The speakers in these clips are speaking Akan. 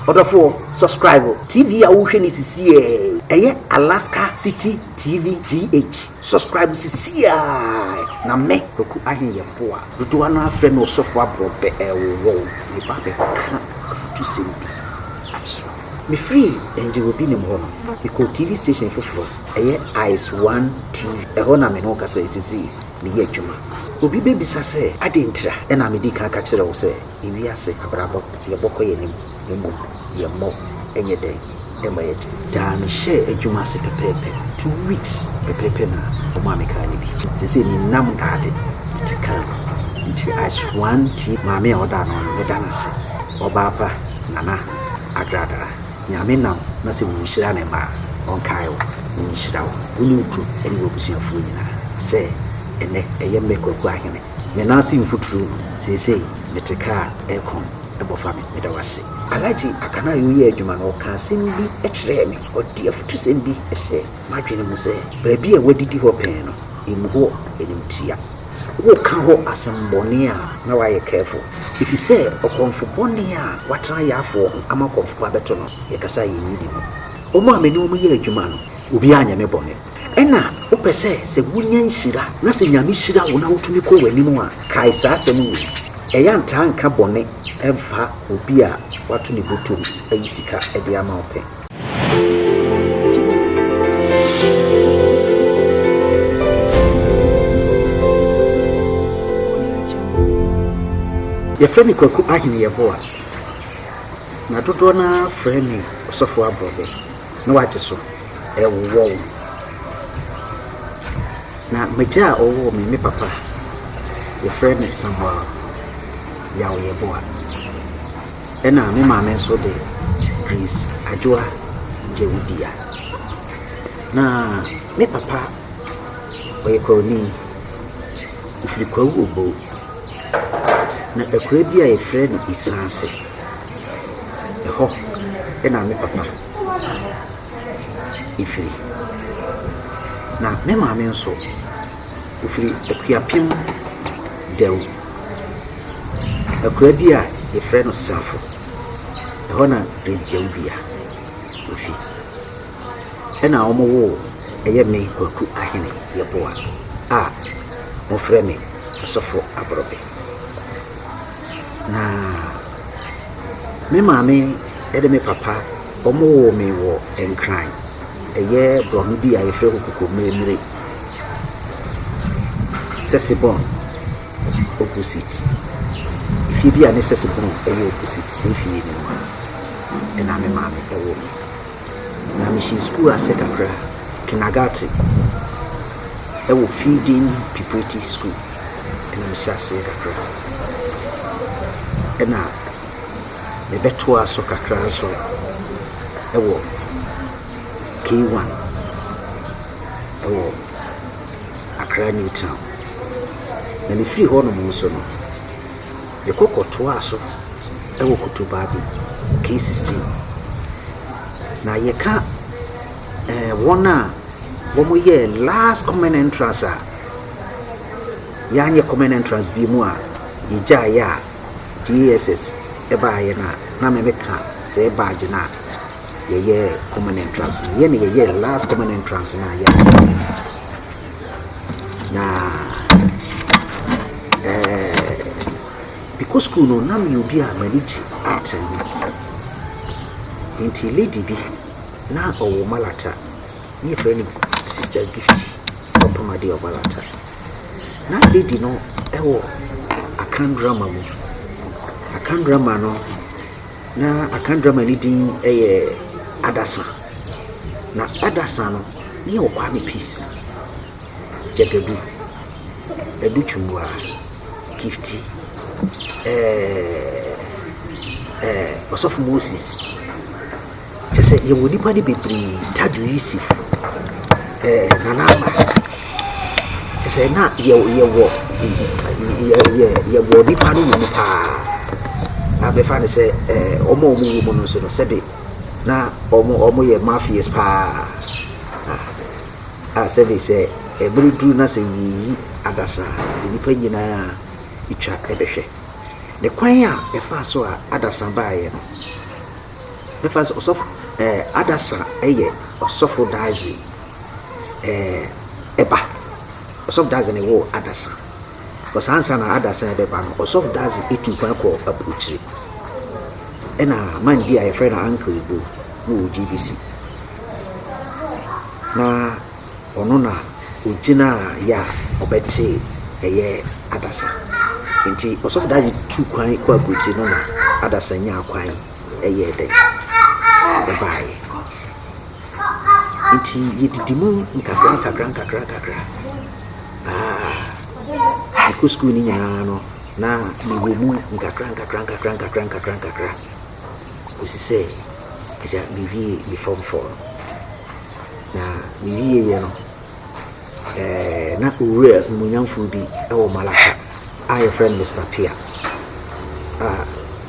Ɔdɔfoɔ, subscribe TV a wohwɛ no sisiɛ ɛyɛ Alaska City TV GH. Subscribe sisiɛ ara na mɛ Kwaku Ahen yɛ boa. Dodoɔ no ara frɛ me Ɔsɔfo Aborɔbɛ ɛwɔ wo. Meba bɛka afutusɛm bi akyerɛ wo. Me firi Angel Obinem hɔ no, me kɔɔ TV station foforɔ ɛyɛ Ice One TV. Ɛhɔ na me ne wo kasa yi sisii, me yɛ adwuma. Obi bɛbisa sɛ adɛn ntira ɛna me di kan ka kyerɛ wo sɛ. Wiase abrabɔ deɛ ɛbɔ kɔ yɛn anim na mmom yɛn mmɔ nyɛ dɛn mma yɛn akyi. Daa me hyɛɛ adwuma ase pɛpɛɛpɛ, two weeks pɛpɛɛpɛ na ɔmaa me kaa no bi. Seesei me nam daade di kaa mu nti I swan tie maame a ɔdaa noɔ no meda no ase ɔbaa pa Nana Adradara Nyame nam na sɛ wo nhyira ne mma a ɔnkae wo na ɔnhyira wo, wo ne wo kunu ne wo abusuafoɔ nyinaa sɛ ɛnɛ ɛyɛ mɛ Kwaku Ahene Me nan ase mfuturu seesei mete car aircon bɔ fa me meda wo ase. Alhaji Akanayo yɛɛ adwuma no ɔkaa asɛm bi kyerɛɛ me ɔde afutusɛm bi hyɛɛ m'adwene mu sɛ baabi a wadidi hɔ pɛn no ɛmu hɔ animtia woka hɔ asɛmbɔne a na wayɛ careful ɛfisɛ ɔkɔmfo bɔne a watena yaafoɔ ho ama ɔkɔmfo pa bɛto no yɛkasa a yɛnyi ne mu wɔn a me ne wɔn yɛ adwuma no obiara nyɛ me bɔne Ɛna wopɛ sɛ sɛ wunya nhyira na sɛ Nyame hyira wo na wotumi kɔ w'anim a, kae saa asɛm wei, Ɛyɛ a ntaa nka bɔne mfa obi a wato ne bɔtom ayi sika de ama wo pɛ. Yɛfrɛ me Kwaku Ahene Yeboah, na dodoɔ no ara frɛ me Ɔsɔfo Aborɔbɛ, na wagye so. ɛwowɔ wo. Na m'agya a ɔwoo me, me papa, wɔfrɛ no Samuel Yaw Yeboah. Ɛna me maame nso de Grace Adwoa Gyewubia. Na me papa ɔyɛ Kwawuni, ɔfiri Kwawu Oboo. Na akura bi a wɔfrɛ no Esaase, ɛhɔ ɛna me papa. gyae ɛfiri. Na me maame nso, ɔfiri Akuapem Dawu, akuraa bi a yɛfrɛ no Safo. Ɛhɔ na Grace Gyawubia ɔfi. Ɛna wɔwoo ɛyɛ me Kwaku Ahene Yeboah a wɔfrɛ me Ɔsɔfo Aborobe. Na me maame ne me papa wɔwoo me wɔ Nkran, ɛyɛ borɔno bi a yɛfrɛ no Kokomire, Sesebɔn opposite. Fie bi a ne Sesebɔn yɛ opposite saa fie no mu na me maame woo me. Na mehyɛɛ sukuu ase kakra, Kinagate wɔ Feeding Preparatory School. na mehyɛ aseɛ kakra na mebɛtoa so kakra nso wɔ K1 wɔ Accra New Town. Na mefiri hɔnom nso no, mekɔ kɔtoaa so wɔ Kotobaabi K16. Na yɛka eh, wɔn a wɔyɛɛ last common entrance a, Yɛanyɛ common entrance bio mu a yɛgyaeɛ a JSS baeɛ no a na me meka sɛɛ badge no a yɛyɛɛ common entrance no. Yɛne yɛyɛɛ last common entrance no a yɛayɛ no. Na ɛɛ mekɔ school no na meyɛ obi a m'ani gye art no. Nti lady bi na ɔwɔ malata. ne yɛfrɛ no Sister Gift Bompam Adeɛ Ɔbalata. Na lady no wɔ Akan drama mu. Akan drama no, na Akan drama no din yɛ Adasa. Na Adasa no, ne yɛwɔ Kwame Peace, Gyagadu, Adu Tumbua, Gifty, ɛɛ ɛɛ Ɔsɔfo Moses. Kyerɛ sɛ yɛwɔ nnipa no bebree. Tadwo yi si ɛɛ Nana Ama. Kyerɛ sɛ na yɛ yɛwɔ yɛ yɛ yɛwɔ nnipa no wɔ mu paa a bɛfa no sɛ ɛɛ wɔn a wɔwɔ mu no nso no sɛbe na wɔn wɔyɛ mafias paa a sɛbe sɛ ɛbere duru na sɛ yɛreyi adasa a nnipa nyinaa twa bɛhwɛ. Ne kwan a ɛfaa so a adasa baeɛ no. Mɛfa no sɛ ɔsɔfo, ɛɛ, adasa yɛ ɔsɔfo dadze, ɛɛ, ba. Ɔsɔfo dadze na ɔwɔ adasa. Because ansa na adasa yi bɛba no, ɔsɔfo dadze etu kwan kɔ abrokyire. Ɛna man bi a yɛfrɛ no Ankara Igbo na ɔwɔ GBC. Na. Ɔno na ogyinaa yɛ a ɔbɛte ɛyɛ adasa. Nti Ɔsɔfo Daadze tuu kwan kɔɔ aburokyir no na adasa nyaa kwan yɛɛ dɛ ɛbaaeɛ. Nti yɛdidi mu nkakra nkakra nkakra nkakra aa mekɔ sukuu no nyinaa no na mewɔ mu nkakra nkakra nkakra nkakra nkakra nkakra. kɔsi sɛ agya mewie me fɔm fɔɔ no na me wieɛ no ɛɛ na owura nimonyamfoɔ bi wɔ Malata a yɛfrɛ no Mr. Pia a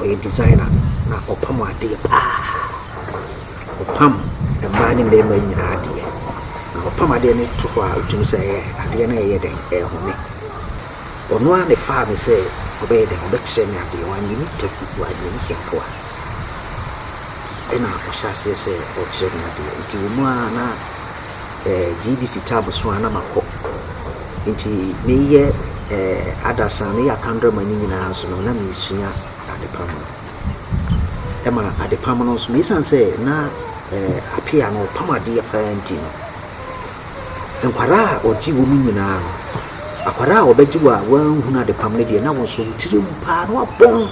ɔyɛ designer na ɔpam adeɛ paa ɔpam mmaa ne mmarima nyinaa adeɛ na ɔpam adeɛ no to hɔ a wotumi sɛ ɛyɛ adeɛ no ɛyɛ dɛn ɛhome. Ɔno ara na ɛfaa me sɛ ɔbɛyɛ dɛn, ɔbɛkyerɛ me adeɛ, wanyɛ me taku, wanyɛ me sɛmpoa. Ɛna ɔhyɛ aseɛ sɛ ɔrekyerɛ me adeɛ, nti wɔ mu ara na eh, GBC term so ara na makɔ. Nti meyɛ eh, adasa, meyɛ akandrama no nyinaa nso no, na meresua adepam no. Ɛma adepam no nso no, ɛsiane sɛ na eh, apea no ɔpam adeɛ pa ara nti no, Nkwadaa a ɔgye wɔn nyinaa no, akwadaa a wɔbɛgye wo a wɔanhunu adepam no deɛ, na wo nso wo tiri awu pa ara na woabɔn.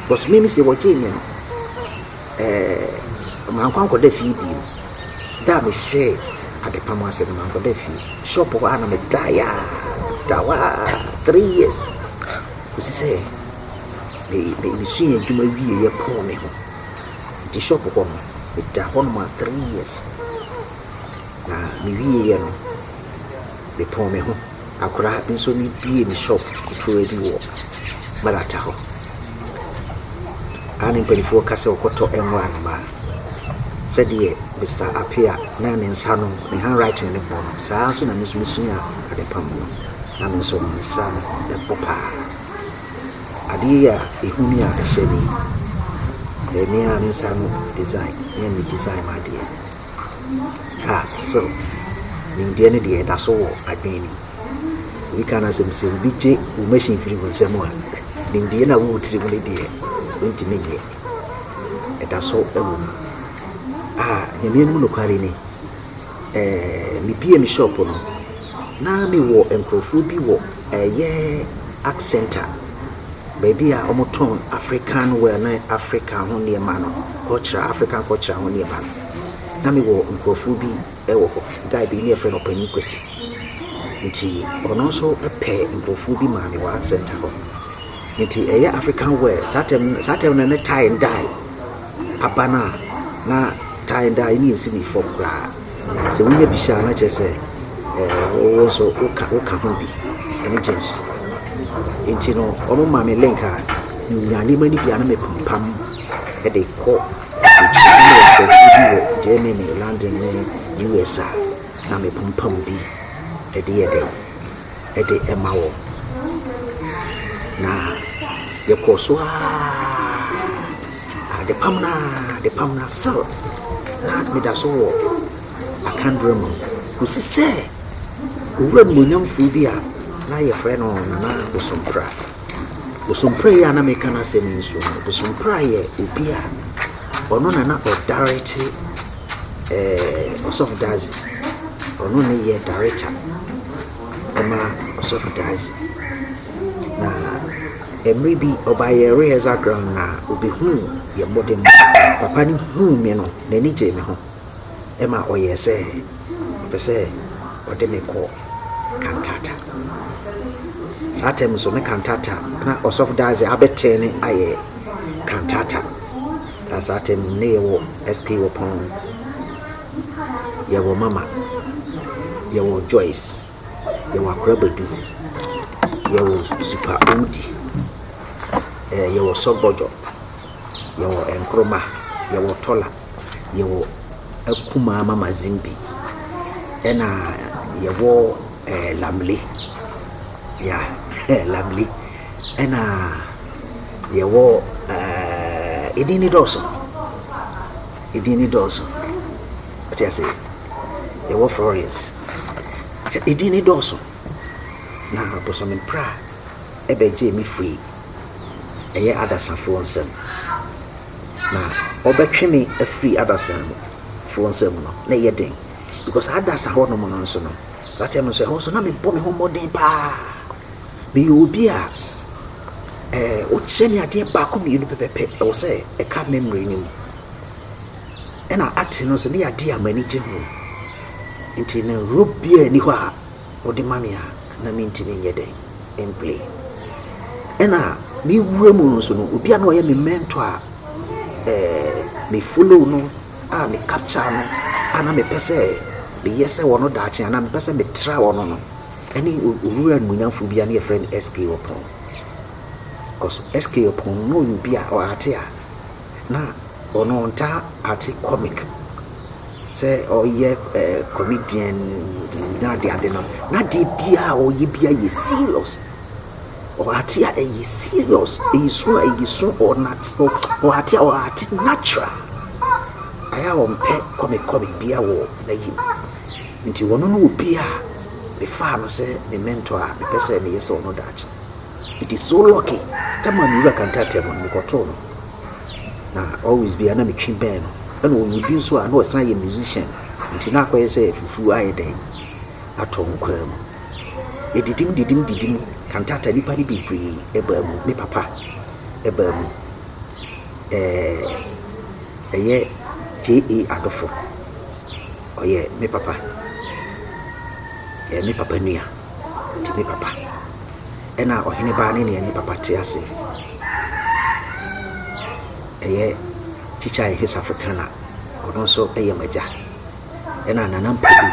Because me sɛ wɔgyee me no, ɛɛ mankɔ ankɔda fie bio. Da a mehyɛɛ adepam ase no, mankɔda fie. Shop hɔ ara na medaeɛ a, medaa hɔ ara three years kɔsi sɛ me me mesua adwuma wieeɛ pɔɔ me ho. Nti shop hɔ no me da hɔ nom a three years na me wie yɛ no me pɔn me ho akora me nso me bie me shop ketewa bi wɔ Malata hɔ a ne mpanifoɔ ka sɛ ɔkɔ tɔ nwura nom a sɛ deɛ Mister Apea na ne nsa no ne hand writing ne bɔ no saa nso na me nso me sua ade pam no na me nso me nsa no ɛbɔ paa adeɛ a ɛhu ni a ɛhyɛ ni ɛyɛ me ara me nsa ano design me a me design m'adeɛ a still nimdeɛ no deɛ ɛda so wɔ adwene no mu obi ka no asɛm sɛ obi gye wo machine firi wo nsam a nimdeɛ no a wowɔ tiri mu no deɛ wontumi nyɛ ɛda so wɔ mu a nyame anim nokware ni mebue me shop no, na mewɔ nkorɔfoɔ bi wɔ ɛyɛ Art Centre, baabi a wɔtɔn African wear ne Africa ho nneɛma no, cultural, African cultural ho nneɛma no. Na mewɔ nkorɔfoɔ bi wɔ hɔ, guy bi ne yɛfrɛ no Ɔpanin Kwasi. Nti ɔno nso pɛ nkorɔfoɔ bi maa me wɔ Art Centre hɔ. Nti ɛyɛ African wear, saa time no, saa time no ne tie and dye. aban a na tie dye no nsi ne fam koraa. Sɛ wonya bi hyɛ a na kyerɛ sɛ wo nso woka woka ho bi ne jeans. Nti no wɔmaa me link a menya nneɛma no bi a na mepampam de kɔ akyiri. Na mewɔ nkurɔfoɔ bi wɔ Germany, London ne US a na mepampam bi de yɛ dɛn. de ma wɔn. Na yɛkɔɔ so ara adepam no ara adepam no ara still na meda so wɔ akandora mu kɔsi sɛ owura nimonyamfoɔ bi a na yɛfrɛ no Nana Bosompra. Bosompra yi a na meka n'asɛm yi nso no, Bosompra yɛ obi a ɔno na na ɔdirect ɛɛɛ Ɔsɔfo Daadze. Ɔno na ɔyɛ director ma Ɔsɔfo Daadze. Na mber bi, ɔbaeɛ rehearsal ground no a, obehuu yɛn mbɔdzen. Papa no huu me no, n'enyi gyee me ho ma ɔyɛɛ sɛ ɔpɛ sɛ ɔde me kɔ cantata. Saa tam no nso, na cantata, na Ɔsɔfo Daadze abɛtsee no ayɛ cantata. Yɛwɔ saa atemmu no, na yɛwɔ SK wɔ pɔn ano, yɛwɔ Mama, yɛwɔ Joyce, yɛwɔ Akora Badu, yɛwɔ Super Owudi, eh, yɛwɔ Sɔgbɔdwɔ, yɛwɔ Nkroma, yɛwɔ Tɔla, yɛwɔ Akumaa Mama Zimbi, ɛna yɛwɔ Eh, Lamli. Ya, eh, Lamli. Ɛna yɛwɔ, eh, edin ne dɔɔso. Edin ne dɔɔso. Ɔte ase. Yɛwɔ Florence. Sɛ edin ne dɔɔso. Na bosome pra ɛbɛgyee me firi ɛyɛ adasafoɔ nsam. Na ɔbɛtwe me afiri adasafoɔ nsam no, na ɛyɛ den. Because saa adasa hɔ nom no nso no, saa time no nso ɛhɔ nso na mebɔ me ho mmɔden paa. Meyɛ obi a ɛɛ wokyerɛ me adeɛ baako mmienu pɛpɛpɛ ɛwɔ sɛ ɛka memory no mu. Ɛna acting no nso ne yɛ adeɛ a m'ani gye ho. Nti no role biara nni hɔ a wɔde ma me a na mentumi nyɛ dɛn mplay. Ɛna me wura mu no nso no obi a na ɔyɛ me mentor a ɛɛ me follow no a me capture no a na mepɛ sɛ meyɛ sɛ wɔn daakye anaa mepɛ sɛ metra wɔn no ne owura animuonyamfoɔ bi a ne yɛfrɛ no SK Ɔpon. Because SK Ɔpon no na ɔyɛ obi a ɔate a na ɔno ɔntaa ate comic sɛ ɔyɛ eh, comedian na ade ade no na adeɛ biara a ɔyɛ biara yɛ serious Ɔate a ɛyɛ serious, ɛyɛ su a ɛyɛ su, ɔate a ɔate natural. Ayɛ a ɔmpɛ kɔmekɔme biara wɔ n'ayim. Nti ɔno ne obi a mefaa no sɛ me mentor a mepɛ sɛ meyɛ sɛ ɔno daakye. It is so lucky sɛ maa me wura Kante Attamu no, mekɔtoo no. Na always biara na metwe bɛn no. Ɛna ɔyɛ obi nso a na ɔsan yɛ musician, nti na akɔyɛ sɛ fufuo ayɛ dɛn. atɔ nkwaa mu. Medidim didim didim kantata nnipa no bebree baa mu. Me papa baa mu. Ɛɛ ɛyɛ JA Adofo. Ɔyɛ me papa. Ɔyɛ me papa nua. Ɔte me papa. Ɛna ɔhene baa ne nea ne papa te ase. Ɛyɛ Tikya Ehisafo Kana. Ɔno nso yɛ m'agya. Ɛna Nana Mpodu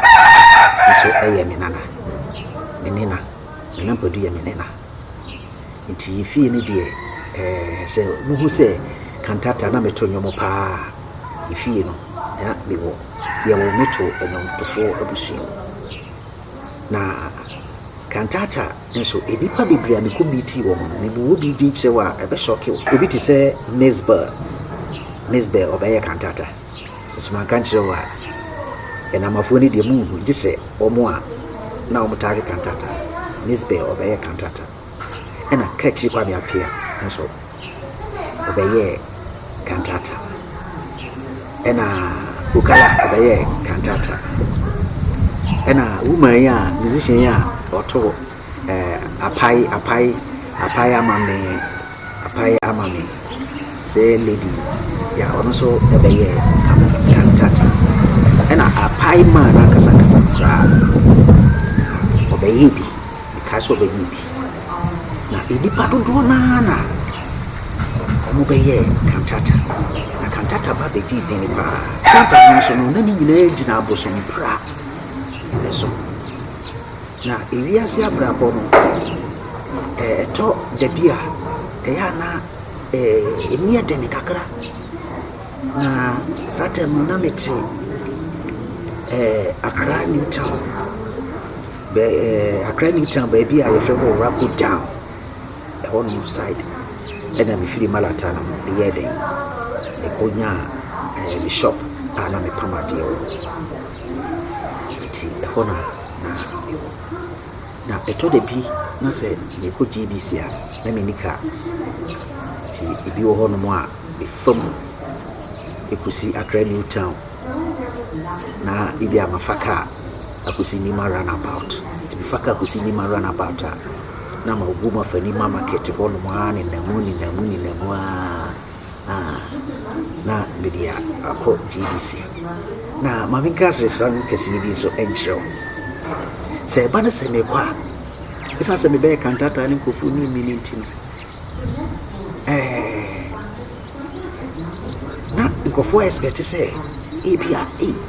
nso yɛ me nana, me nena. Nana Mpodu yɛ me nena. Nti yɛ fie no deɛ ɛɛ sɛ mohu sɛ kantata na meto nnwom paa yɛ fie no na mewɔ yɛwo me to nnwomtofoɔ abusua mu. Na kantata nso nnipa bebree a mekɔ miitii wɔn no me buo bi din kyerɛ wo a ɛbɛ shɔke wo. Obi te sɛ Mizbel, Mizbel ɔbɛyɛ kantata. Nso manka nkyerɛ wo a, yɛn Amafoɔ no deɛ monhu gye sɛ wɔn a na wɔtaa hwe kantata, Mizbeh ɔbɛyɛɛ kantata, ɛna Kachri Kwame Appiah nso ɔbɛyɛɛ kantata, ɛna Ukala ɔbɛyɛɛ kantata, ɛna woman yi a musician yi a ɔto eh, apae, apae, apae ama me, apae ama me. Sɛ lady, ya ɔno nso ɛbɛyɛ kama kantata. Ɛna apae maa no ankasa ankasa no koraa. Ɔbɛyɛ bi, mekae sɛ ɔbɛyɛ bi. Na nnipa dodoɔ no ara na wɔbɛyɛ kantata. Na kantata ba bɛdii dini paa. Kantata no nso no, na ne nyinaa gyina abosompra ɛso. Na ewiase abrabɔ no, ɛtɔ da bi a, ɛyɛ a na ɛmu yɛ den kakra. Na saa tam no, na mete Accra New Town, Accra New Town baabi a wɔfrɛ hɔ Owurapo Town, ɛhɔnom side na mefiri Malata no meyɛɛ dɛn, mekɔnyaa me shop a na mepam adeɛ wɔ hɔ. Nti ɛhɔ na. na mewɔ. Na ɛtɔ da bi na sɛ merekɔ GBC a, na menni kaa. Nti ebi wɔ hɔnom a, mefa mu kɔsi Accra New Town, na ebia mafa kaa akɔsi Nimar Runabout. Nti mefa kaa kɔsi Nimar Runabout a, na mabom afa Nimar Market hɔnom ara nenam mu, nenam mu, nenam mu ara. na na mede akɔ GBC. Na Maame Grace resra no kɛseɛ bi nso nkyerɛ wo. Sɛ ɛba no sɛ mekɔ a, ɛsiane sɛ mebɛyɛ kantataa ne nkurɔfoɔ nim me no nti no, ɛɛ na nkurɔfoɔ expect sɛ ebi a ei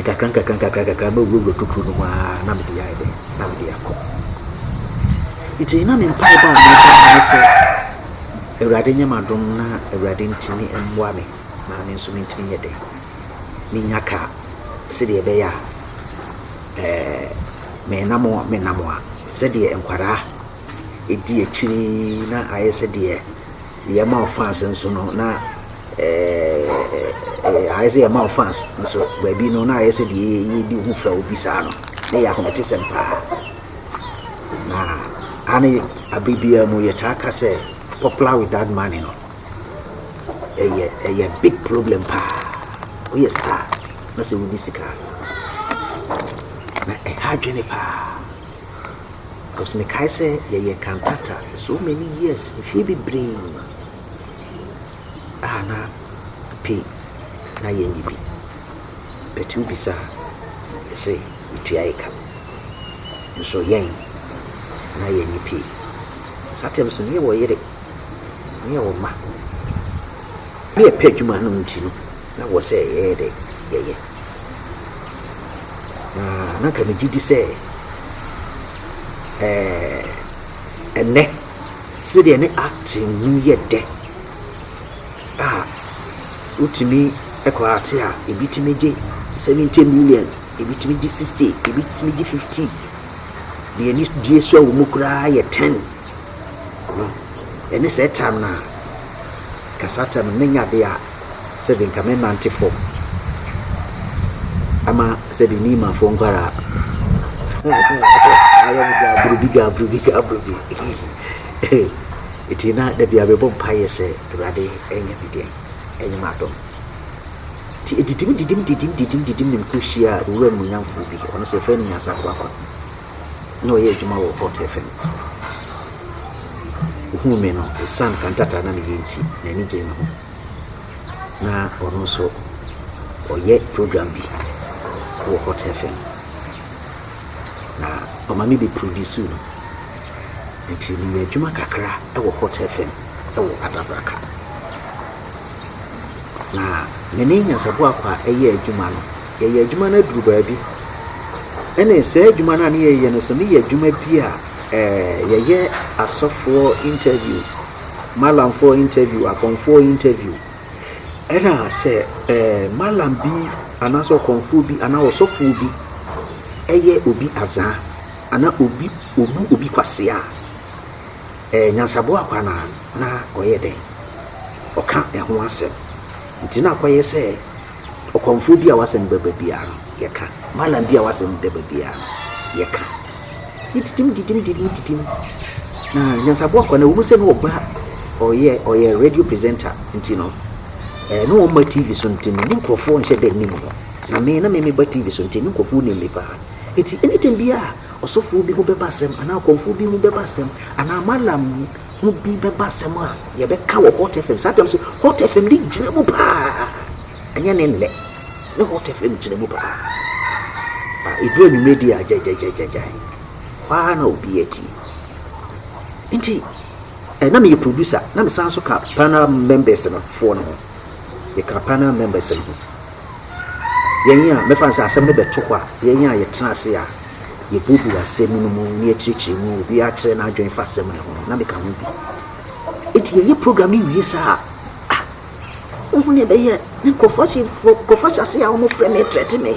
nkakrankakra nkakrankakra mɛwurawura tokuro no mu ara na mede ayɛ dɛ na mede akɔ nti na me mpaebɔ a mebɔ no ne sɛ awurade nyɛ m'adom na awurade ntumi mmoa me na me nso mentumi nyɛ dɛ menya ka sɛdeɛ ɛbɛyɛ a ɛɛ menam menam a sɛdeɛ nkwadaa ɛdi akyiri na ayɛ sɛdeɛ yɛn ma wo fans nso no na ɛɛ ayɛ sɛ yɛn ma wo fans nso baabi no na ayɛ sɛ deɛ yɛdi ho fɛ obi saa no na yɛ ahometesɛm paa na ane abere biara mu yɛtaa ka sɛ popular without money no ɛyɛ ɛyɛ big problem paa woyɛ star na sɛ wodi sika na ɛha adwene paa. Cause mekae sɛ yɛyɛ cantata so many years, mfeɛ bebree a na pay na yɛnyɛ bi. But wobisa a, mese yɛtua yɛ ka. Nso yɛn na yɛnyɛ pay. Saa time so meyɛ wɔ yere, meyɛ wɔ mma. Ne yɛpɛ adwuma no nti no, Na wɔ sɛ yɛyɛ dɛ yɛyɛ. Na na nka megye di sɛ ɛɛ ɛnnɛ sɛdeɛ ne acting no yɛ dɛ a wotumi kɔ ate a ebi tumi gye seventy million ebi tumi gye sixty ebi tumi gye fifty deɛ ani die so a wɔn mu koraa yɛ ten no ɛne sɛ tam no a kasa tam no ne nyɛ adeɛ a. sɛbi nka me nante fɔm ama sɛbi me ma fɔm kwara ayɛ me gabrubi gabrubi gabrubi eti na dabi a mebɔ mpa yɛ sɛ awurade ɛnyɛ me deɛ ɛnyɛ me adom ti edidim didim didim didim didim ne mekɔ hyia owura mu nyamfoɔ bi ɔno sɛ fɛn ne nyasa kwakwa na ɔyɛ adwuma wɔ hot fm ohun me no esan kantata na meyɛ nti n'ani gyee me ho na ɔno nso ɔyɛ program bi wɔ Hot FM, na ɔma me bɛ produce no, nti meyɛ adwuma kakra wɔ Hot FM wɔ Adabraka. Na me ne Nyansaboakwa yɛ adwuma no, yɛyɛ adwuma no aduru baabi, ɛna saa adwuma no a ne yɛyɛ no nso ne yɛ adwuma bi a ɛɛ yɛyɛ asɔfoɔ interview. Malamfoɔ interview, Akɔmfoɔ interview, ɛna sɛ ɛɛ Malam bi anaasɛ Ɔkɔmfoɔ bi anaa Ɔsɔfoɔ bi ɛyɛ obi azaa anaa obi obu obi kwasea a, ɛɛ Nyansaboa akɔ anaa na ɔyɛ dɛn? Ɔka ɛho asɛm. Nti na akɔyɛ sɛ Ɔkɔmfoɔ bi a w'asɛm ba baabiara no, yɛka. Malam bi a w'asɛm da baabiara no, yɛka. Yɛdidim didim didim didim. Na Nyansaboa Kwane, ɛwɔ mu sɛ na ɔba, ɔyɛ, ɔyɛ radio presenter nti no, ɛɛ, na ɔmma TV so nti no, ne nkurɔfoɔ nhyɛ da nnim no. Na me, na me meba TV so nti, ne nkurɔfoɔ nim me paa. Enti, anytime biara a ɔsɔfoɔ bi ho bɛba asɛm, anaa ɔkɔmfoɔ bi ho bɛba asɛm, anaa Malam, mu bi bɛba asɛm a yɛbɛka wɔ Hot FM. Saa tam so Hot FM de gyina mu paa. Ɛnyɛ ne nnɛ. Ne Hot FM gyina mu paa. A ɛduru anwummerɛ di a gyagyagyagyagya. Hɔ ara na obi atie. Nti, eh, na meyɛ producer, na mesan so ka panel members no foɔ no ho. Meka panel members no ho. Yɛn a, mɛfa no sɛ asɛm no bɛto hɔ a, yɛn a yɛtena ase a yebuebue asɛm no mu na yɛkyerɛkyerɛ mu, obiara akyerɛ n'adwene fa asɛm no ho no, na meka ho bi. Enti yɛyɛ program no wie saa a, ah, wohu nea ɛbɛyɛ na nkurɔfo ahyɛ, nkurɔfo ahyɛ ase a wɔfrɛ me, threaten me.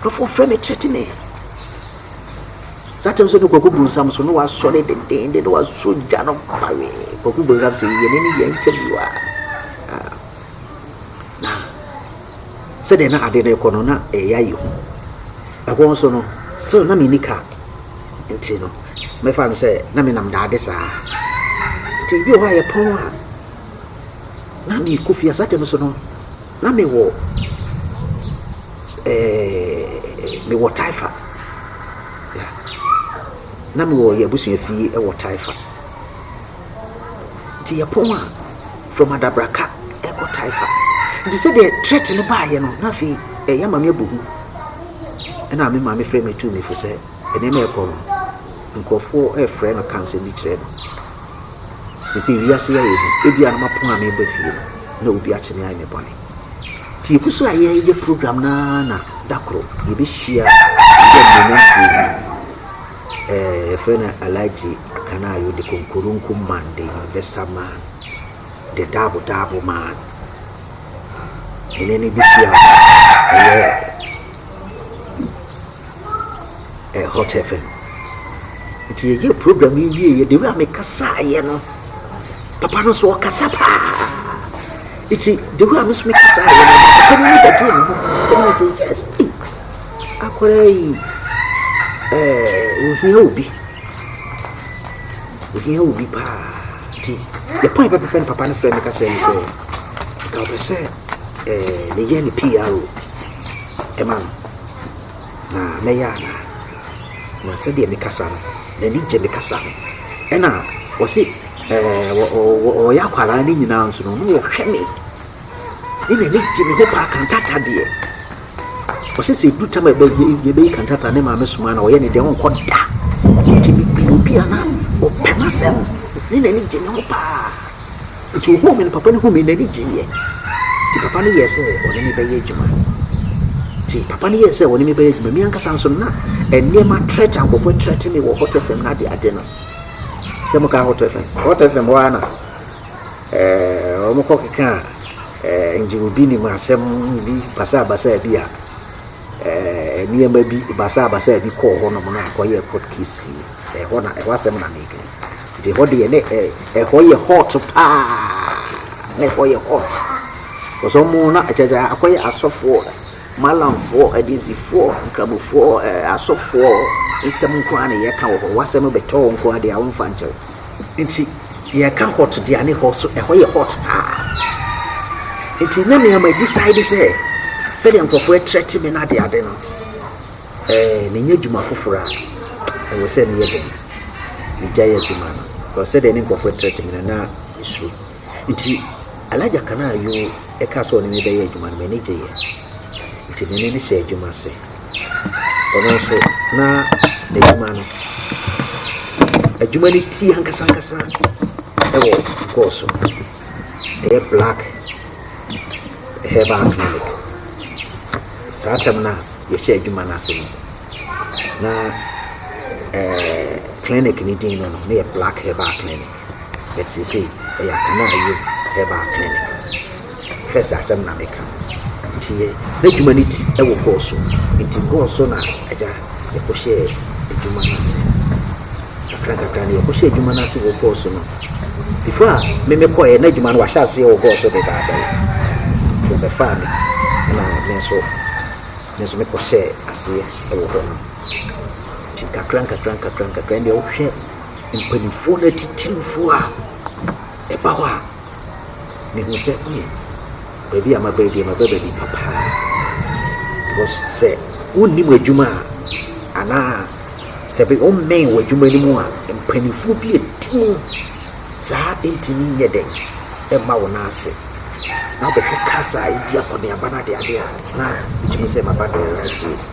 Nkurɔfoɔ frɛ me threatening. Saa time so ne Kwaku Bonsam so ne wasɔre dendeenden ne waso gya no bawee. Kwaku Bonsam sɛ yɛne ne yɛ interview a na sɛdeɛ na ade no rekɔ no na ɛyɛ ayi ho. Ɛhɔ nso no still na menni car nti no mɛfa no sɛ na menam daade saa. Nti bi wɔ hɔ a yɛpɔn a na mekɔ fie a saa time so no Na me wɔ ɛɛɛɛɛ me wɔ Taifa yeah na me wɔ yɛ abusua fie ɛwɔ Taifa nti yɛ pɔn a from Adabraka ɛkɔ Taifa nti sɛ deɛ threat no baa yɛ no na afei ɛɛ yɛ maame abu hu ɛna me maame frɛ me tuu me fo sɛ nneɛma ɛkɔ no nkorɔfoɔ ɛɛfrɛ no ka nsɛm bi kyerɛ no. Seesei wiase yi ayɛ hu. Ebia na mapɔn a mereba fie no, na obi akyere me ayɛ me bɔne. Nti yɛgu so a yɛyɛ program no ara na da koro yɛbɛhyia yɛn animuonyamfoɔ bi, ɛɛ yɛfrɛ no Alhaji Akanayo, the Konkoronko man, the universal man, the Dabo Dabo man. Yɛne no bɛhyia ɛyɛ ɛɛ Hot FM. Nti yɛyɛɛ program yi wieeɛ, the way a mekasaeɛ no, papa no nso ɔkasa paa. Nti the way a me nso mekasaeɛ no, papa no ani bɛgyee me ho paa. Ɛna ɔse yes, ei, akwadaa yi, ɛɛ ohia obi, ohia obi paa. Nti the point pɛpɛpɛ no papa no frɛ me ka kyerɛ me sɛ, nka ɔpɛ sɛ ɛɛ meyɛ ne PRO ɛma no. na mɛyɛ anaa? Na sɛdeɛ mekasa no, n'ani gye me kasa ho. Ɛnna wɔse wɔyɛ akwadaa no nyinaa nso no, na wɔhwɛ me, ne n'ani gye me ho paa kantata deɛ. Wɔse sɛ ɛdu tam a yɛbɛyi kantata ne maame soma na ɔyɛ ne deɛ ɔnkɔ da. Nti mepii obi a na ɔpɛ m'asɛm, ne n'ani gye me ho paa. Enti ohuu me no, papa no huu me no, n'ani gyee yɛ. Enti papa no yɛɛ sɛ ɔne me bɛyɛ adwuma. Enti papa no yɛɛ sɛ ɔne me bɛyɛ adwuma. Me ankasa nso, na nneɛma trɛt a nkurɔfoɔ atrɛte me wɔ Hot FM no adeade no. Sɛ mokaa Hot FM, Hot FM hɔ ara na ɛɛ wɔkɔkekaa ɛɛ ngyero bi nim asɛm bi basaabasaa bi a ɛɛ nneɛma bi basaabasaa bi kɔɔ hɔnom na akɔyɛɛ court case. Ɛhɔ na ɛhɔ asɛm na meka yi. Nti hɔ deɛ ne ɛ ɛhɔ yɛ hot paa na ɛhɔ yɛ hot cause ɔmo na kyerɛ sɛ akɔyɛ asɔfoɔ malamfoɔ agyinsifoɔ nkramofoɔ ɛɛ asɔfoɔ nsɛm nko ara na yɛka wɔ hɔ w'asɛm bɛtɔ wo nko ara deɛ wɔmfa nkyɛ wo nti yɛka hot deɛ ne hɔ so ɛhɔ yɛ hot paa nti na mea ma decide sɛ sɛdeɛ nkurɔfoɔ ɛtrɛte me no adeade no Sɛ menya adwuma foforɔ a, ɛwɔ sɛ meyɛ dɛn? Megyae adwuma no? Because sɛdeɛ ne nkurɔfoɔ retrɛte me no, na mesuro. Nti, Elijah ka no a Yehu kaa sɛ ɔne me bɛyɛ adwuma no, m'ani gyeeɛ. Nti, me ne no hyɛɛ adwuma ase. Ɔno nso, na n'adwuma no, adwuma no ti ankasa ankasa wɔ gold so. Ɛyɛ black herbal clinic. Saa tam no a, yɛhyɛ adwuma no ase no, na ɛɛ clinic no din no no, na yɛ Black Herbal Clinic. But seesei ɛyɛ Akana Ayie Herbal Clinic. First asɛm na meka no. Nti yɛ n'adwuma no ti wɔ Gɔɔ so. Nti Gɔɔ so na Agya yɛkɔhyɛɛ adwuma no ase. Kakrankakra no, yɛkɔhyɛɛ adwuma no ase wɔ Gɔɔ so no. Before a me mekɔeɛ, na adwuma no wɔahyɛ aseɛ wɔ Gɔɔ so dedaadaw. Nti wɔbɛfaa me, ɛna me nso, me nso mekɔhyɛɛ aseɛ wɔ hɔ nom. Nti nkakrankakra nkakrankakra, ɛnneɛ wohwɛ mpaninfoɔ no atitirifoɔ a ɛba hɔ a. Mehuu sɛ hmm, baabi a maba yi deɛ maba baabi pa paa. Because sɛ wonni mo adwuma a, anaa sɛ bi wommɛn w'adwuma no mu a, mpanimfoɔ bi adi mu saa ntumi nyɛ dɛn mma wo nan ase. Na wobɛhwɛ cars a ɛredi akɔneaba no adeadeɛ a, na wogye mu sɛ maba the right place.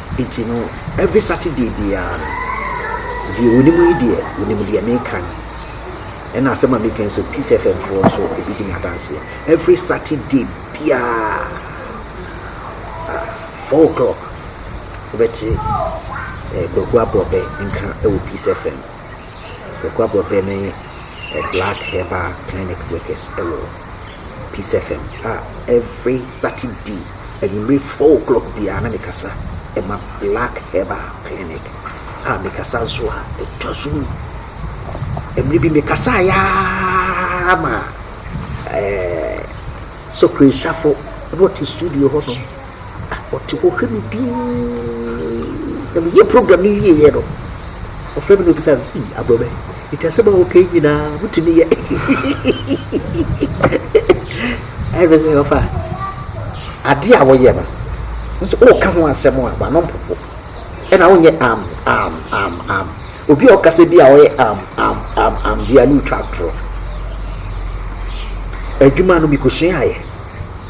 Nti no every Saturday biara no, deɛ wɔnim yi deɛ wɔnim deɛ meka no, ɛna asɛm a meka yi nso Peace FM foɔ nso ɛbi di me adanseɛ. Every Saturday biara four o'clock wobɛte Kwaku Aborɔbɛ nka wɔ Peace FM. Okuabo Be ne a black herbal clinic workers wɔ Peace FM a every Saturday anwummere four o'clock biara na mekasa ma black herbal clinic a mekasa nso a ɛtɔ so mu. Mmere bi mekasa yaa ma ɛɛ sokirisafo na ɔte studio hɔnom. Na ɔte hɔ hwɛ me dinn. Na meyɛ program no wieeɛ no, ɔfrɛ me na ɔbisa me sɛ, Ii Aborɔbɛ, nti asɛm a woka yi nyinaa wotumi yɛ? Ɛna mese, Ɔfa, adeɛ a woyɛ no, wo sɛ woka ho asɛm a, w'ano mpopo. Ɛna wonyɛ am am am am. Obi a ɔkasa bi a ɔyɛ am am am am biara no retwa atorɔ. Adwuma no mekɔsuaeɛ.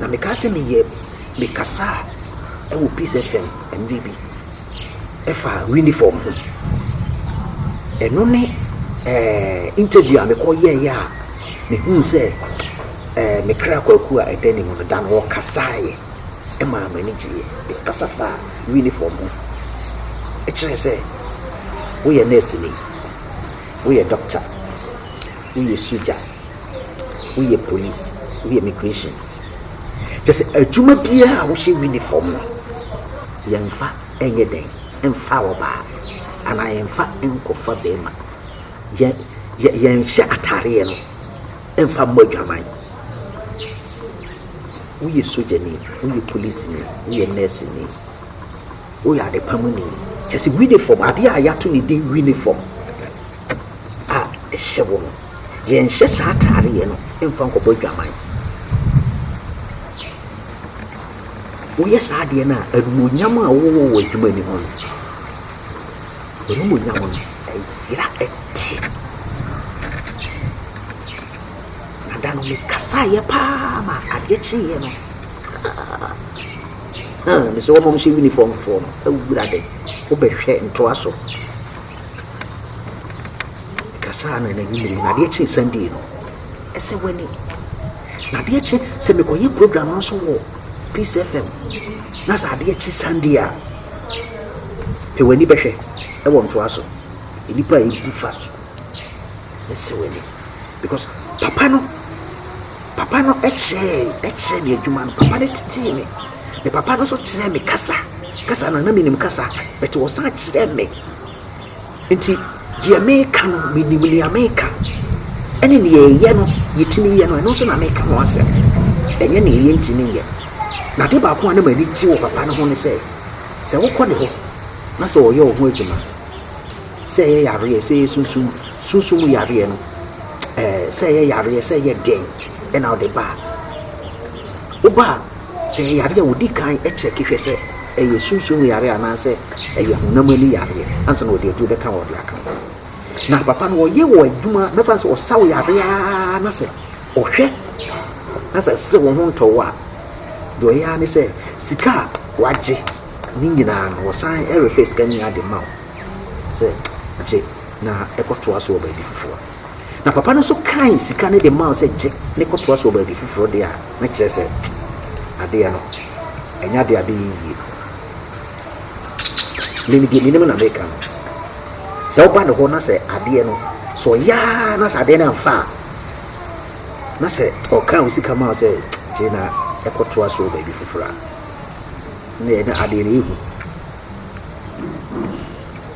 Na mekaa sɛ meyɛ mekasaa wɔ peace FM mmerɛ bi ɛfa unifɔm ho. Ɛno ne interview a mekɔ yɛɛyɛ a mehuu sɛ me kra kwaku a ɛda ne mu no da no ɔkasaaeɛ ɛmaa m'ani gyeeɛ. Mekasa faa unifɔm ho ɛkyerɛɛ sɛ woyɛ nɛɛseni, woyɛ dɔkta, woyɛ sogya. woyɛ police, woyɛ immigration, kyerɛ sɛ adwuma biara a wohyɛ uniform no, yɛmfa nyɛ dɛn mfa ɔbaa anaa yɛmfa nkɔfa barima. Yɛn yɛ yɛnhyɛ ataareɛ no mfa mmɔ adwaman. Woyɛ sogyani, woyɛ polisini, woyɛ nɛɛseni, woyɛ adepa mu ni, kyerɛ sɛ uniform adeɛ a yɛato ne din uniform. a ɛhyɛ wo no, yɛnhyɛ saa ataareɛ no mfa nkɔbɔ adwaman. Woyɛ saa adeɛ no a, animuonyam a wowɔ wɔ adwuma no mu no, w'animuonyam no ɛyera ɛte. Na da no mekasaeɛ paa ma adeɛ kyeeɛ no, ah, ah, mesɛ wɔmɔm hyɛ uniformfoɔ no, awurade, wobɛhwɛ ntoa so. Na saa ara na n'anim no, na adeɛ kye Sunday no, ɛsɛ w'ani. Na adeɛ kye sɛ mekɔyɛ program no nso wɔ Peace FM. Na sɛ adeɛ kye Sunday a, pɛ w'ani bɛhwɛ ɛwɔ ntoa so. Nnipa a ɛbu fa so, ɛsɛ w'ani. Because papa no, papa no kyerɛɛ kyerɛɛ me adwuma no, papa no tetee me. Na papa no nso kyerɛɛ me kasa, kasa na na menim kasa, but ɔsan kyerɛɛ me Enti deɛ meka no, menim deɛ meka, ɛne deɛ ɛyɛ no, yɛtumi yɛ no, ɛno nso na meka ho asɛm, ɛnyɛ deɛ yɛntumi nyɛ. Na ade baako a na m'ani gye wɔ papa no ho ne sɛ, sɛ wokɔ ne hɔ na sɛ ɔyɛ wo ho adwuma, sɛ ɛyɛ yareɛ, sɛ ɛyɛ sunsum, sunsum yareɛ no, ɛɛ, sɛ ɛyɛ yareɛ, sɛ ɛyɛ dɛn, ɛna ɔde ba a, woba a, Sɛ ɛyɛ yareɛ a, wɔdi kan kyɛke hwɛ sɛ ɛyɛ sunsum mu yareɛ anaasɛ ɛyɛ honam ani yareɛ ansa na wɔde aduro bɛka ho a wɔde aka ho. Na papa no ɔyɛ wɔ adwuma, mɛfa no sɛ ɔsa wo yareɛ ara na sɛ ɔhwɛ na sɛ ɛsɛ sɛ wo ho ntɔ wo a, deɛ ɔyɛ ara ne sɛ sika a wagye ne nyinaa no ɔsan refa sika no nyinaa de ma wo sɛ gye na kɔtoa so wɔ baabi foforɔ. Na papa no nso kae sika no de maa wo sɛ gye ne kɔtoa so wɔ baabi foforɔ deɛ a, na kyerɛ sɛ adeɛ no, ɛnyɛ adeɛ a abɛyɛ yie. Mene deɛ menim na meka no. Sɛ woba ne hɔ na sɛ adeɛ no, sɛ ɔyɛ ara na sɛ adeɛ no amfa a, na sɛ ɔkaa wo sika maa wo sɛ gye na ɛkɔtoa so wɔ baabi foforɔ a, na ɛyɛ na adeɛ no ɛhu.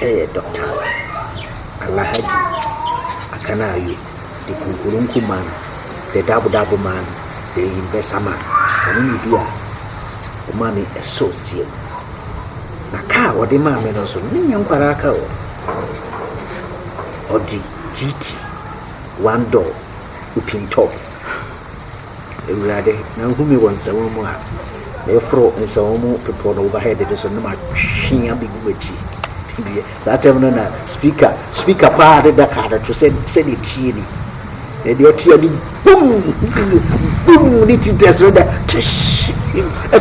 yɛ Dɔkta Alahadji Akana Ayo de kunkurunku man de dabodabo man de eyi mbɛsa man. Ɔno ne bi a ɔmaa me ɛso steer mu. Na ka a ɔde maa me no nso no, me nyɛ nkwaraa ka o. Ɔde GT one door open top. Ewurade, na nhu me wɔ nsɛwã mu a, meforo nsɛwã mu bepɔ no overhead no so na matwe abegu w'akyi. Deɛ saa tɛm no na speaker speaker paa de da kaa no to sɛ sɛdeɛ tie ni. Na deɛ ɔte ani bum bum ne ti tɛs no da tish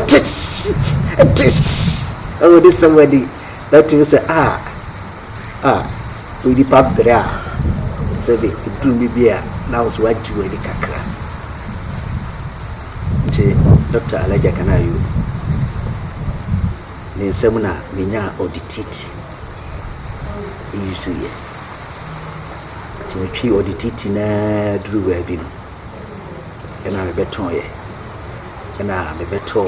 tish tish ɛwɔ ne sɛm ani na te sɛ ah a onipa brɛ a sɛdeɛ ɛduru no bi a na wo so wagye w'ani kakra nti Doctor Alagya Kanayo ne nsam na menyaa ɔdetiti yusuiɛ nti metwii ɔdetiti na duru baabi no ɛna mebɛtɔɔyɛ ɛna mebɛtɔɔ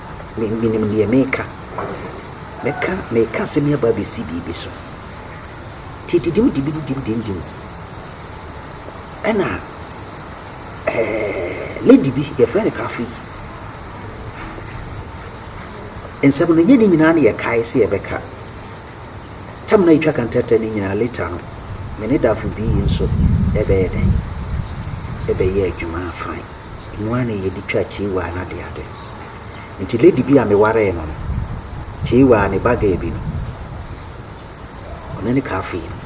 Me, menim deɛ mereka. Mɛka, mereka asɛm yi aba abɛsi biribi so. Tididim dibididim dimdim. Ɛna, ɛɛ, lady bi, yɛfrɛ no Kafe yi. Nsɛm no, nyɛ ne nyinaa na yɛkae sɛ yɛbɛka. Tam na yɛtwa kantɛtɛ no nyinaa later no, me ne Dafo bi yi nso ɛbɛyɛ dɛn? Ɛbɛyɛ adwuma fine. Ɛno ara na yɛde twa tiwaa no adeade. Ntsi lady bi a mewaree no no tsie wɔ a ne ba girl bi no, ɔno ne kaafo yi no.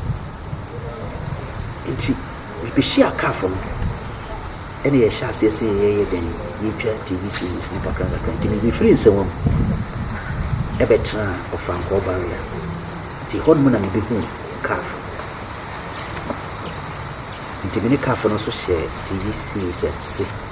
Ntsi mibehyiaa kaafo no na yɛhyɛɛ aseɛ sɛ yɛyɛ dɛn, yɛretwa TV series no kakra kakra. Ntsi medze firii nsɛwa mu bɛtsenaa Ɔfrankwɔɔ Barrier. Ntsi hɔ no mu na mebehuu kaafo. Ntsi me ne kaafo no so hyɛɛ TV series ase.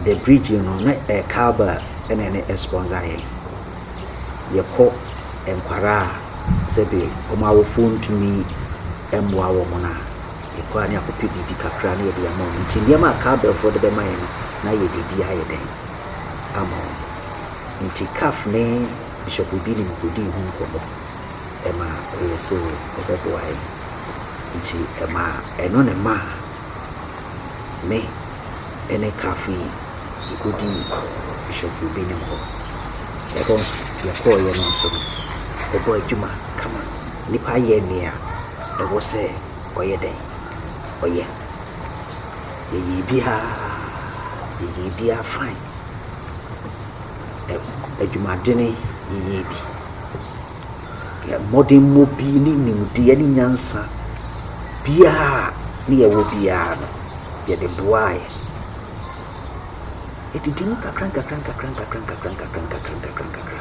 The bridge no no na ɛyɛ cowbell na ɛne sponsor yɛn. Yɛkɔ nkwadaa a sɛbi wɔn awofoɔ ntumi mmoa wɔn no a, yɛkɔ a na yɛakɔ pɛ biribi kakra na yɛde ama wɔn. Nti nneɛma a cowbellfoɔ de bɛma yɛn no na yɛde bi ayɛ dɛn ama wɔn. Nti Caf ne Bishop Obinim kɔdii ho nkɔmmɔ ɛma ɔyɛɛ sɛ ɔbɛboa yɛn. Nti ɛmaa ɛno na ɛmaa. me ne Kafo yi yɛkɔdii Bishop Obinim hɔ. Ɛhɔ nso yɛkɔeɛ no nso no, ɔbɔɔ adwuma kama. Nipa yɛ nea ɛwɔ sɛ ɔyɛ dɛn? Ɔyɛ. Yɛyɛɛ biara, yɛyɛɛ biara fine. Ɛ, adwumadene yɛyɛɛ bi. Yɛn mmɔdemmɔ bi ne nimdeɛ ne nyansa biara a na yɛwɔ biara no, yɛde boaeɛ. Ɛdidi mu nkakrankakrankakrankakrankakrankakrankakrankakra.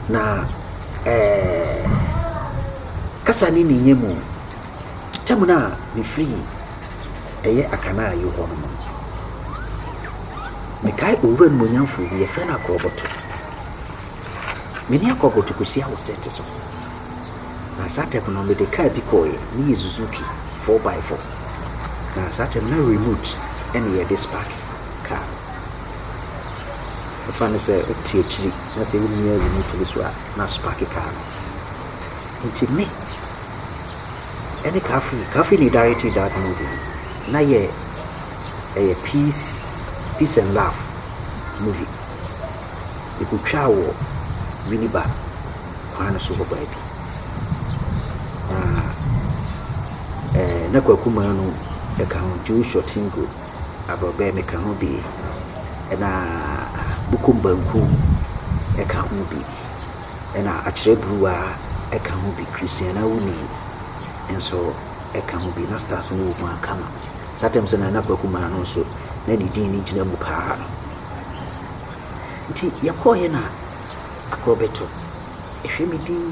Na ɛɛ kasa ne ne nya mu, tam no a mefiri ɛyɛ Akanaayi hɔ no, mekae Owura Animuonyamfoɔ bi, yɛfrɛ no Akorɔbɔto. Me ne Yakob to kɔhyia wɔ sɛte so, na saa tɛm no mede kaa bi kɔeɛ, ne yɛ Suzuki four by four, na saa tɛm na remote ɛne yɛde spark kaa no. Ɛfa ne sɛ wote akyiri na sɛ wommia remote no so a na asparke kaa no. Nti me ɛne Kafri, Kafri ne directed that movie no, na yɛ ɛyɛ peace, peace and love movie. Yɛkɔtwaa wɔ Winneba kwan no so hɔ baabi. Na na Kwaku Manu ka ho, Joshua Tingo, Abrɔbɛ meka ho bi, ɛna Bukom Banku ka ho bi, ɛna Akyerɛ Bruwa ka ho bi, Christian Awuni nso ka ho bi. Na Stars no wɔ mu ara kama. Saa tam sɛ na Kwaku Manu nso na ne din no gyina mu pa ara. Nti yɛkɔeɛ na akorɔ bɛto. Ɛhwɛ me dinn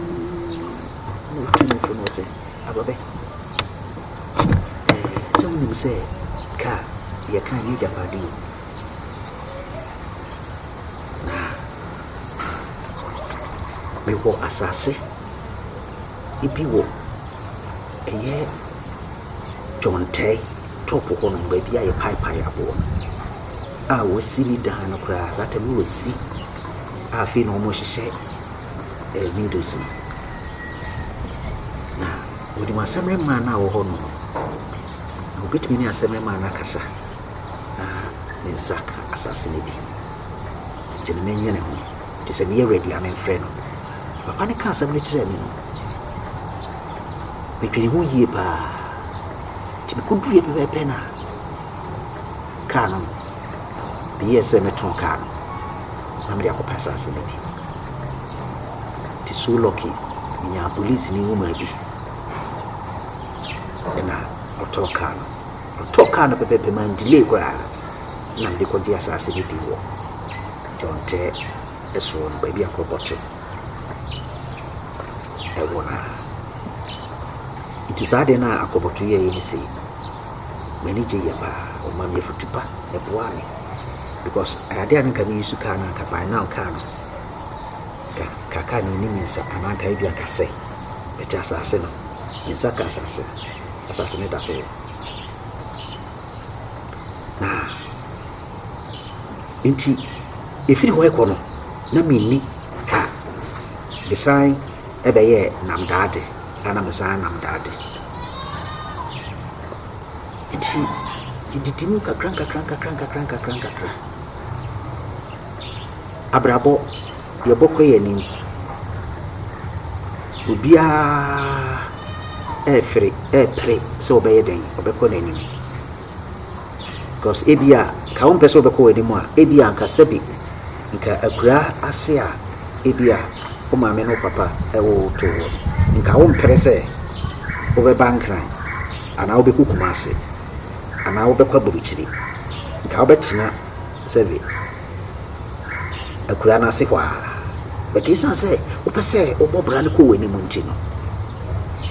na ɔtuu me fo na ɔse, Ababɛ, ɛɛ sɛ wonim sɛ kaa deɛ ɛka nyɛ agyapadeɛ o. Na mewɔ asaase bi wɔ. Ɛyɛ dwontae top hɔ nom, baabi a yɛpaepae aboɔ no a wɔasi ne dan no koraa. Saa tam no wɔasi a afei na wɔrehyehyɛ ɛɛ windows no. Na wɔnim asɛmmeremaa no a ɔwɔ hɔnom no, na wɔbɛtumi ne asɛmmeremaa no akasa na ne nsa aka asase no bi. Nti no mennwene ho. Nti sɛ meyɛ ready a memfrɛ no. Papa no kaa asɛm no kyerɛɛ me no, Medwenee ho yie pa ara. Nti mekɔduruiɛ pɛpɛɛpɛ no a, kaa no, meyɛɛ sɛ mɛtɔn kaa no na mede akɔpɛ asase no bi. Nti so lucky, menyaa polisini nwoma bi ɛna ɔtɔɔ kaa no. Ɔtɔɔ kaa no pɛpɛɛpɛ, man delay koraa na mede kɔgyee asase no bi wɔ John Tɛ. ɛsono no, baabi a nkurɔfoɔ te wɔ no ara. Nti saa adeɛ no a Akɔbɔto yɛeɛ no sei no, m'ani gyeeɛ pa ara. Ɔmaa me afutu pa, ɛboaa me because adeɛ a na anka me use kaa no anka by now kaa no, anka kaa no nni me nsa anaa anka ebi anka asɛe. But asase no, me nsa kaa asase no, asase no da so wɔ hɔ. Na. Enti ɛfiri hɔ rekɔ no, na menni ka. Mesan bɛyɛɛ nnamdaade, a na mesan yɛ nnamdaade. Enti yɛdidi mu nkakrankakrankakrankakra. Abrabɔ, yɛbɔ kɔ yɛn anim. Obiara refere repere sɛ ɔbɛyɛ dɛn, ɔbɛkɔ n'anim. Because ebia nka wompɛ sɛ wobɛkɔ w'anim a, ebia nka sɛbe nka akuraa ase a ebia wo maame ne wo papa woo wo too hɔ no, nka wompere sɛ wobɛba Nkran anaa wobɛkɔ Kumase anaa wobɛkɔ Aburukyiri. Nka wobɛtena sɛbe akuraa no ase hɔ ara. But esiane sɛ wopɛ sɛ wobɔ bra no kɔ w'anim nti no,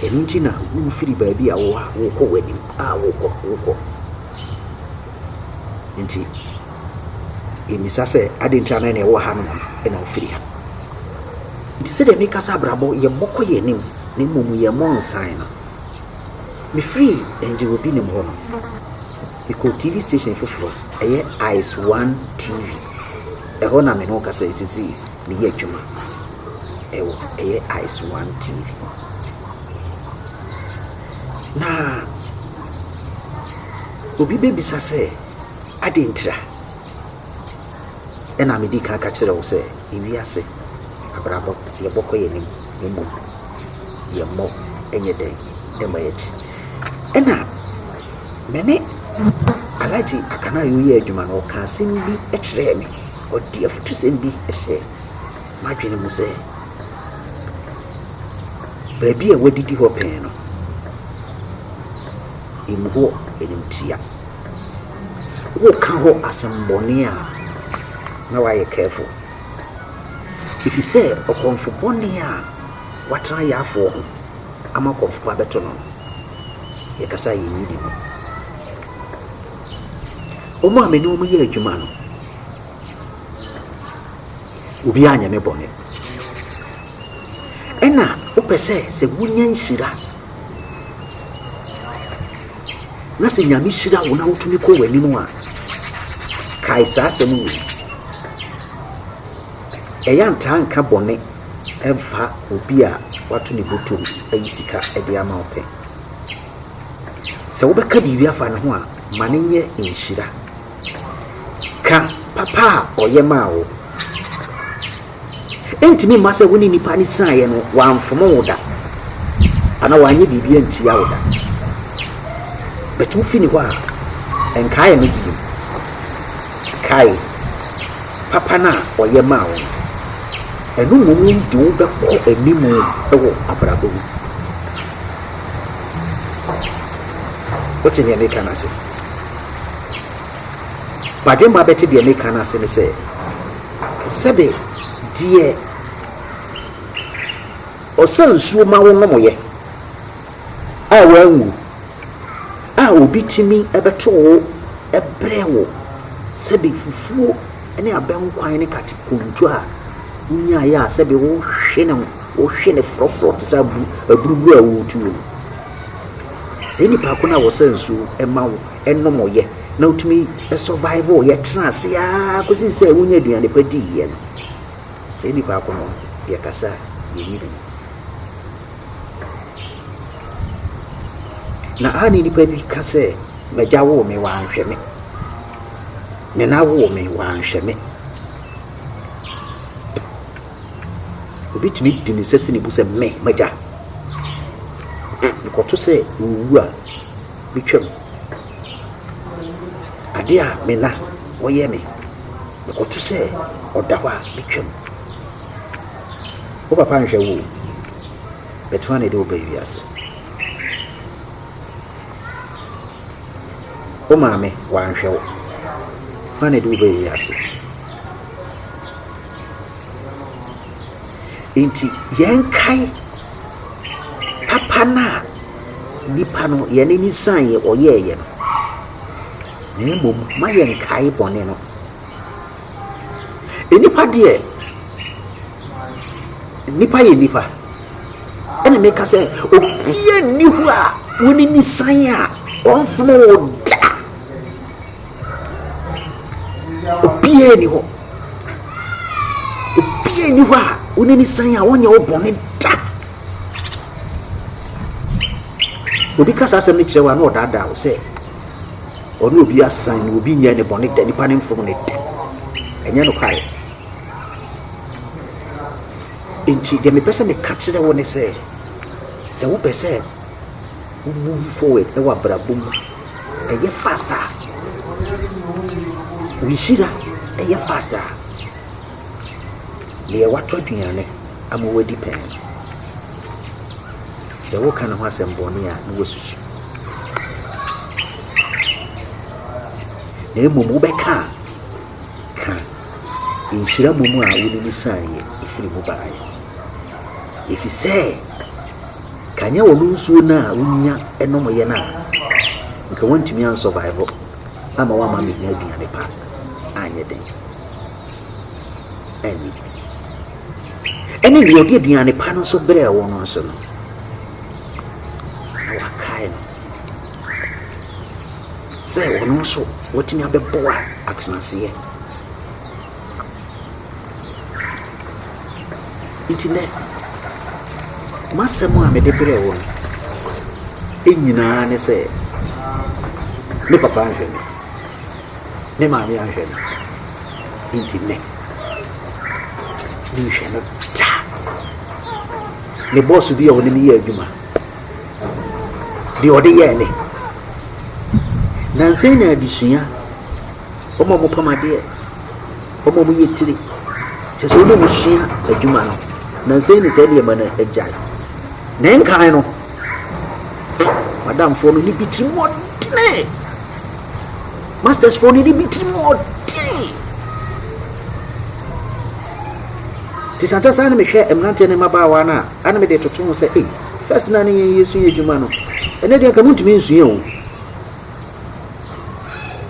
ɛno nti na wofiri baabi a wowɔ a wokɔ w'anim. a wokɔ wokɔ nti yɛmmisa sɛ adɛn nti ana na ɛwɔ hanom na wofiri ha nti sɛdeɛ meka sɛ abrabɔ yɛmmɔkɔ yɛn anim na mmom yɛmmɔ nsan no mefiri ɛngye wɔ bi nim hɔ no mekɔɔ tv station foforɔ ɛyɛ ice one tv ɛhɔ na me ne wokasa ɛsisi meyɛ adwuma ɛwɔ ɛyɛ ice one tv Na obi bɛbisa sɛ, Adɛn ntira? Ɛna medi kan ka kyerɛ wo sɛ, Ewiase abrabɔ, yɛbɔkɔ yɛn anim, na mmom yɛmmɔ nyɛ dɛn? Yɛmmɔ yɛn akyi. Ɛna me ne Alhaji Akanayo yɛɛ adwuma no, ɔkaa asɛm bi kyerɛɛ me, ɔde afutusɛm bi hyɛɛ m'adwene mu sɛ, Baabi a wɔadidi hɔ pɛn no, emu hɔ animtia. Woka hɔ asɛmmɔne a, na woayɛ careful, ɛfiri sɛ ɔkorɔmfo bɔne a watena Yafoɔ ho ama ɔkorɔmfo pa abɛto no no, yɛkasa a yɛnyi ne mu. Wɔn a me ne wɔn yɛ adwuma no, Obi anyɛ me bɔne. Ɛna wopɛ sɛ sɛ wonya nhyira na sɛ Nyame hyira wo na wotumi kɔ w'anim a, kae saa asɛm wei. Ɛyɛ ntaa nka bɔne mfa obi a wato ne botom ayi sika de ama wo pɛ. Sɛ wobɛka biribi afa ne ho a, ma no nyɛ nhyira. Ka papa a ɔyɛ maa wo. Ɛntumi mma sɛ wo ne nipa no siaeɛ no, wamfom wo da anaa wanyɛ biribi antia wo da. But wofi ne hɔ a, nkae no bio. Kae papa no a ɔyɛ maa wo no. Ɛno mmom de wo bɛkɔ anim wɔ abrabɔ mu. Wote deɛ meka no ase? W'adwemma bɛte deɛ meka no ase ne sɛ, sɛbe deɛ ɔsa nsuo ma wo nomoeɛ a woanwu a obi tumi bɛto wo brɛ wo, sɛbe fufuo ne abɛnkwan ne kate konto a wonyaeɛ a sɛbe wohwe no, wohwe no frɔfrɔ te sɛ aburuburuo a woretu no. Sɛ nipa ko no a wɔsa nsuo ma wo nom yɛ na wotumi survive yɛ tena ase ara kɔsi sɛ wonya aduane pa di yɛ no, sɛ nipa ko no yɛ kasa yɛ yi no. Na a ne nipa bi ka sɛ, m'agya woo me wanhwɛ me, me na woo me wanhwɛ me. Obi tumi di ne nsa si ne bo sɛ, Me, m'agya. Mekɔto sɛ owu a, metwam. Ade a me na ɔyɛ me, mekɔto sɛ ɔda hɔ a, metwam. Wo papa nhwɛ wo o, but hwan na ɛde wo ba wiase? Wo maame wanhwɛ wo, hwan na ɛde wo ba wiase? Enti yɛnkae papa no a nipa no yɛn ani saeɛ ɔyɛeɛ no, na mmom ma yɛnkae bɔne no. Nnipa deɛ, nnipa yɛ nnipa. Ɛna meka sɛ obiara nni hɔ a w'ani ne san a ɔmfono wo da. Obiara nni hɔ. Obiara nni hɔ a wo ne no san a ɔnyɛ wo bɔne da. Obi ka saa asɛm no kyerɛ wo a na ɔdaadaa wo sɛ ɔne obi asan na obi nyɛ ne bɔne da, nipa ne mfom ne da. Ɛnyɛ nokware. Enti deɛ mepɛ sɛ meka kyerɛ wo ne sɛ, sɛ wopɛ sɛ Wo move forward wɔ abrabɔ mu, ɛyɛ fast a, wo nhyira yɛ fast a, deɛ watɔ aduane ama wadi pɛn no, sɛ woka ne ho asɛm bɔne a, na wasusu. Na mmom wobɛka a, ka nhyira mmom a wode no sianeɛ ɛfiri mu baeɛ. Ɛfiri sɛ. Nka nyɛ wɔn nsuo no a wonya nomyɛ no a, nka wɔntumi ansurvive ama wɔama amɛnya aduane pa anyɛ den anni. Ɛne deɛ ɔde aduane pa no nso brɛɛ wɔn no nso no, na wakae no sɛ wɔn nso wɔtumi abɛboa atenaseɛ. Enti nnɛ, m'asɛm a mede brɛ wo no nyinaa ne sɛ, me papa anhwɛ me, me maame anhwɛ me, enti nnɛ, menhwɛ no kyekyɛ. Me bɔɔso bi a ɔne me yɛ adwuma, deɛ ɔde yɛɛ me, nansa nyinaa adesua. Wɔn a wɔpam adeɛ, wɔn a wɔyɛ tire, kyerɛ sɛ wɔn a wɔsua adwuma no, nansa yi na saa nneɛma no agyae. Na nkan no, madamfoɔ no ne bi tiri mu ɔdene, mastersfoɔ no ne bi tiri mu ɔdene. Nti santa saa na mehwɛ mmeranteɛ ne mmabaawa no a, ana mede toto ho sɛ, ei, first na ne yɛn yɛsua adwuma no, ɛnɛ deɛ nka montumi nsua o.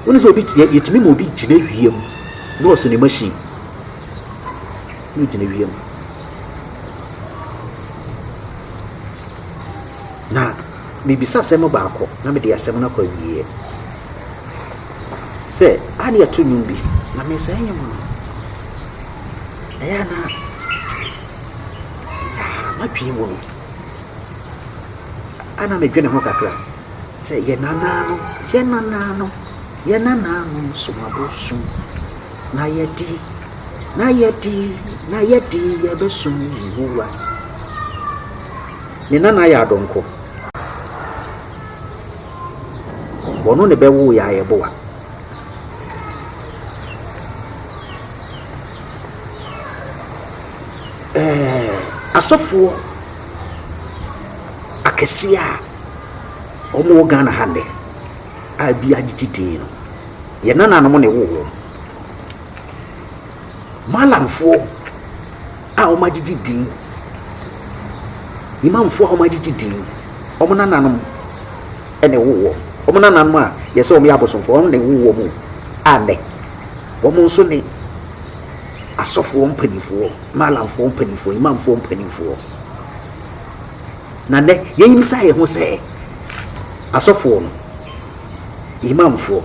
Wone sɛ obi te yɛtumi ma obi gyina wia mu na ɔsɛ ne machine na ogyina wia mu na mebisa asɛm baako na mede asɛm no akɔ awieɛ sɛ a ne yɛto nnwom bi na mesɛe nnwom no ɛyɛ ana madwee mu no ana medwene ho kakra sɛ yɛn nanaanom, yɛn nanaanom, yɛn nanaanom som abosom, na yɛde, na yɛde, na yɛde yɛbɛsom Yehowa. Ne nana yɛ adɔnkɔ. Wɔno ne bɛwoo yɛ ayɛboa. Ɛɛ asɔfoɔ akɛseɛ a Wɔn wɔ Ghana ha nnɛ a ebi agyegye din no, yɛn nananom na ɛwoo wɔn. Malamfoɔ a wɔn agyegye din, Imamfoɔ a wɔn agyegye din, wɔn nananom na ɛwoo wɔn. Wɔn nananom a yɛsɛ wɔn yɛ abosomfoɔ, wɔn na ɛwoo wɔn o. A nnɛ, wɔn nso ne asɔfoɔ mpanimfoɔ, Malamfoɔ mpanimfoɔ, Imamfoɔ mpanimfoɔ. Na nnɛ, yɛmmisa yɛn ho sɛ, Asɔfoɔ no, Imamfoɔ,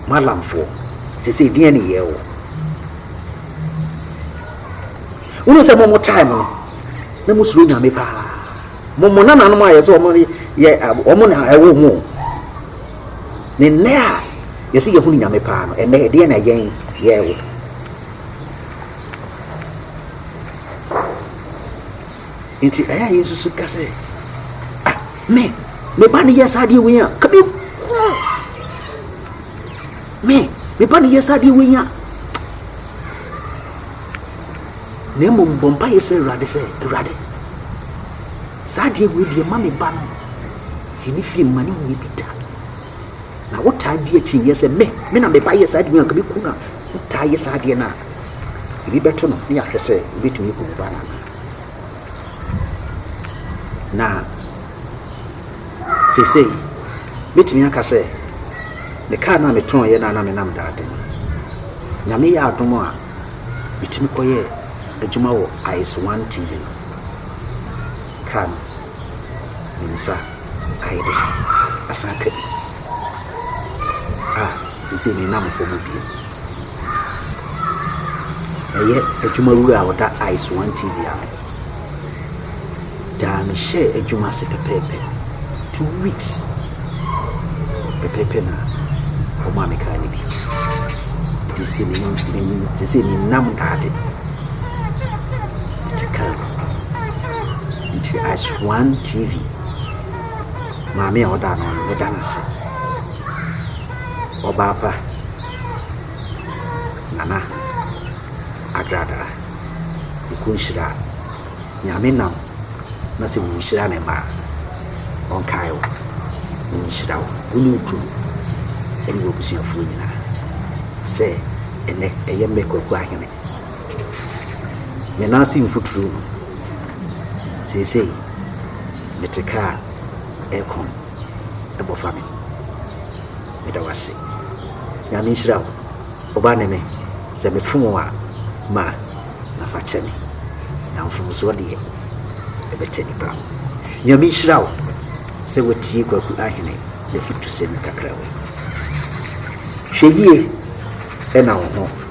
Mallamfoɔ, seesei deɛn ne yɛɛ wɔ? Wonim sɛ mo mo time no, na mo suro Nyame paa. Mo mo nananom a yɛsɛ wɔn yɛ wɔn na ɛwɔ mo. Ne nnɛ a yɛsɛ yɛhunu Nyame paa no, ɛnnɛ ɛdeɛn na yɛn yɛɛ wɔ? Enti ɛyɛ a yɛsusu ka sɛ, A, me, me ba no yɛ saa adeɛ wei a, ka bi ku no. Me, me ba no yɛ saa adeɛ wei a. Na mmom bɔ mpa yɛ sɛ Awurade sɛ, Awurade, saa adeɛ wei deɛ ma me ba no yi ne firi mma ne nyɛ bi da. Na wotaa di akyinnyeɛ sɛ me, me na me ba yɛ saa adeɛ wei a, ka bi ku no a, wotaa yɛ saa adeɛ no a, ebi bɛto no ne yɛahwɛ sɛ wobɛtumi aku wo ba no anaa. Na seesei, mɛtumi aka sɛ, me kaa no a metɔeɛ no a na menam daade no, Nyame yɛɛ adom a, metumi kɔyɛɛ adwuma wɔ Ice One TV no. Kaa no, me nsa ayɛ dɛ, asan aka bi. a seesei menam fam bio. Ɛyɛ adwumawura a ɔda ice one TV ano. Daa mehyɛɛ adwuma ase pɛpɛɛpɛ. Two weeks pɛpɛɛpɛ na wɔmaa me kaa no bi. Nti sɛ me te sɛ menam daade te kaa mu. Nti ice one TV. Maame a ɔda ano no, meda no ase. Ɔbaa pa, Nana Agradaa, Nko nhyira. Nyame nam na sɛ wonhyira ne mma a, ɔnkae wo na ɔnhyira wo, wo ne wo kurom ɛne w'abusuafoɔ nyinaa. Sɛ ɛnnɛ, ɛyɛ me Kwaku Ahene Me nan ase mfuturo mu. Seesei mete kaa a ɛrekɔ no ɛbɔ fa me. Meda wo ase. Nyame nhyira wo. Ɔba ne me. Sɛ me fom wo a ma na fa kyɛ me. Na mfomsoɔ deɛ ɛbɛtɛ nipa. Nyame nhyira wo sɛ watie Kwaku Ahene n'afutusɛm kakra wei. Hwɛ yie na wo ho.